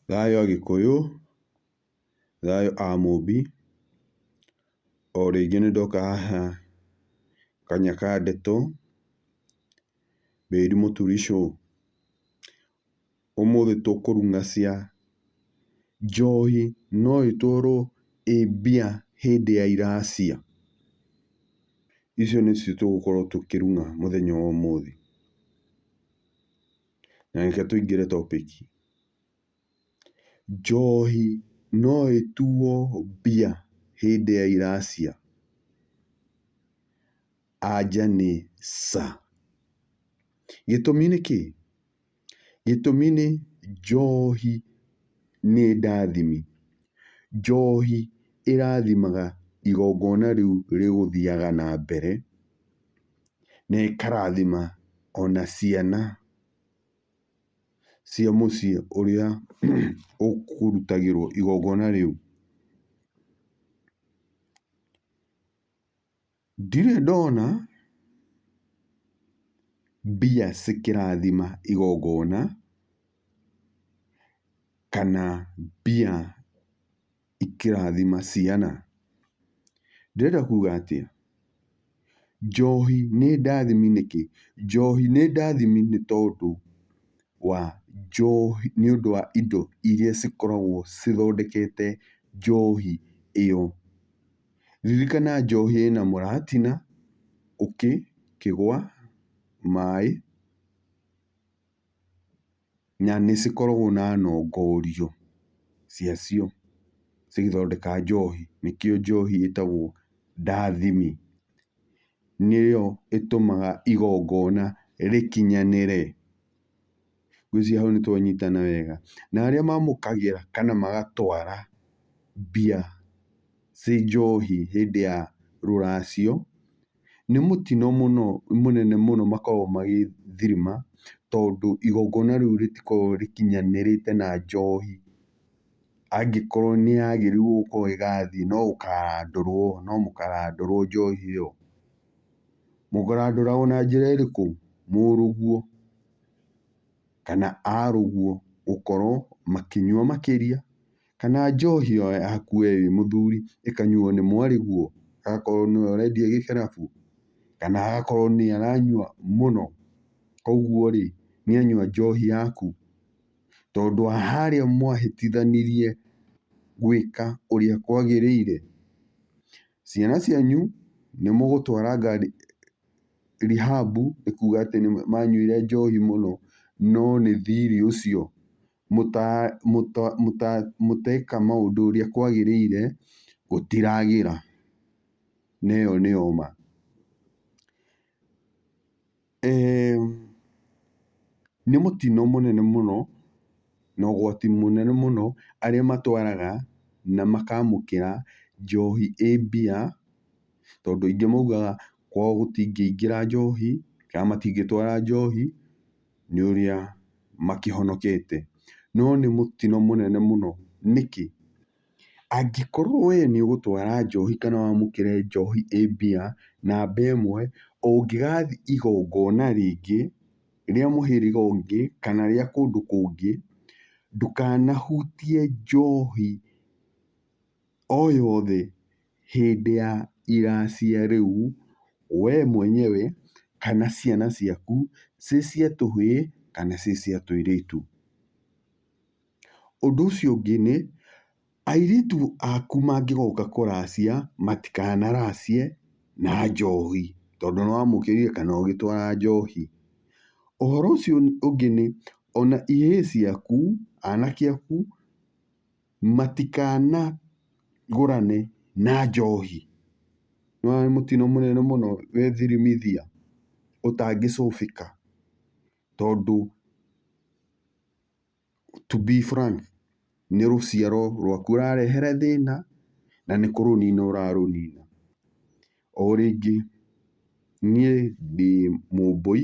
Thayũ Agĩkũyũ, thayũ a Mũmbi, o rĩngĩ nĩ ndoka haha kanya ka ndeto, Mĩri Mũturi Show. Ũmũthĩ tũkũrugacia njohi no ĩtwarwo ĩ mbia hĩndĩ ya iracia. Icio nĩcio tũgũkorwo tũkĩruga mũthenya wa ũmũthĩ. Na reke tũingĩre topic. Njohi no ĩtuo mbia hĩndĩ ya iracia? Anja nĩ ca. Gĩtũmi nĩ kĩĩ? Gĩtũmi nĩ njohi nĩ ndathimi. Njohi ĩrathimaga igongona rĩu rĩgũthiaga na mbere. nĩĩkarathima ona ciana cia mũciĩ ũrĩa ũkũrutagĩrwo igongona rĩu. Ndirĩ ndona mbia cikĩrathima igongona kana mbia. ikĩrathima ciana. Ndĩrenda kuga atĩa? Njohi nĩ ndathimi nĩkĩ? Njohi nĩ ndathimi nĩ tondũ wa njohi nĩ ũndũ wa indo irĩa cikoragwo cithondekete njohi ĩyo. Ririkana njohi ĩna mũratina, ũkĩ, kĩgwa, maĩ. Na nĩ cikoragwo na nongorio cia cio cigĩthondeka njohi, nĩkĩo njohi ĩtagwo ndathimi. Nĩyo ĩtũmaga igongona rĩkinyanĩre. Ngwĩciria hau nĩ twanyitana wega. Na arĩa mamũkagĩra kana magatwara mbia ciĩ njohi hĩndĩ ya rũracio, nĩ mũtino mũno mũnene mũno makoragwo magĩthũrima tondũ igongona rĩu rĩtikoragwo rĩkinyanĩrĩte na njohi. Angĩkorwo nĩ yagĩrĩirwo gũkorwo ĩgathiĩ no gũkarandũrwo, no mũkarandũrwo njohi ĩyo. Mũkarandũragwo na njĩra ĩrĩkũ? Mũrũguo kana arũguo gũkorwo makĩnyua makĩria. Kana njohi o yaku we wĩ mũthuri ĩkanyuo nĩ mwarĩguo, agakorwo nĩwe ũrendia gĩkĩrabu, kana agakorwo nĩye aranyua mũno. Koguo rĩ, nĩ anyua njohi yaku. Tondũ wa harĩa mwahĩtithanirie gwĩka ũrĩa kwagĩrĩire. Ciana cianyu nĩ mũgũtwara rehab nĩ kuga atĩ nĩ manyuire njohi mũno, no nĩ thirĩ ũcio. mũteka maũndũ ũrĩa kwagĩrĩire gũtiragĩra. Na ĩyo nĩyo ma. Nĩ mũtino mũnene mũno na ũgwati mũnene mũno arĩa matwaraga na makamũkĩra njohi ĩ mbia, tondũ aingĩ maugaga kwao gũtingĩingĩra njohi kana matingĩtwara njohi. nĩ ũrĩa makĩhonokete. No nĩ mũtino mũnene mũno nĩkĩ? Angĩkorwo we nĩ ũgũtwara njohi kana wamũkĩre njohi ĩ mbia namba ĩmwe, ũngĩgathiĩ igongona rĩngĩ rĩa mũhĩrĩga ũngĩ kana rĩa kũndũ kũngĩ, ndũkanahutie njohi o yothe hĩndĩ ya iracia rĩu we mwenyewe kana ciana ciaku ciĩ cia tũhĩĩ kana ciĩ cia tũirĩtu. Ũndũ ũcio ũngĩ nĩ, airĩtu aku mangĩgoka kũracia matikanaracie na njohi tondũ nĩ wamũkĩrire kana ũgĩtwara njohi. Ũhoro ũcio ũngĩ nĩ, ona ihĩĩ ciaku, anake aku... matikanagũrane na njohi. Nĩ wona nĩ mũtino mũnene mũno wĩ thirimithia ũtangĩcũbĩka tondũ to be frank nĩ rũciaro rwaku ũrarehere thĩna na nĩ kũrũnina ũrarũnina. O rĩngĩ niĩ ndĩ mũmbũi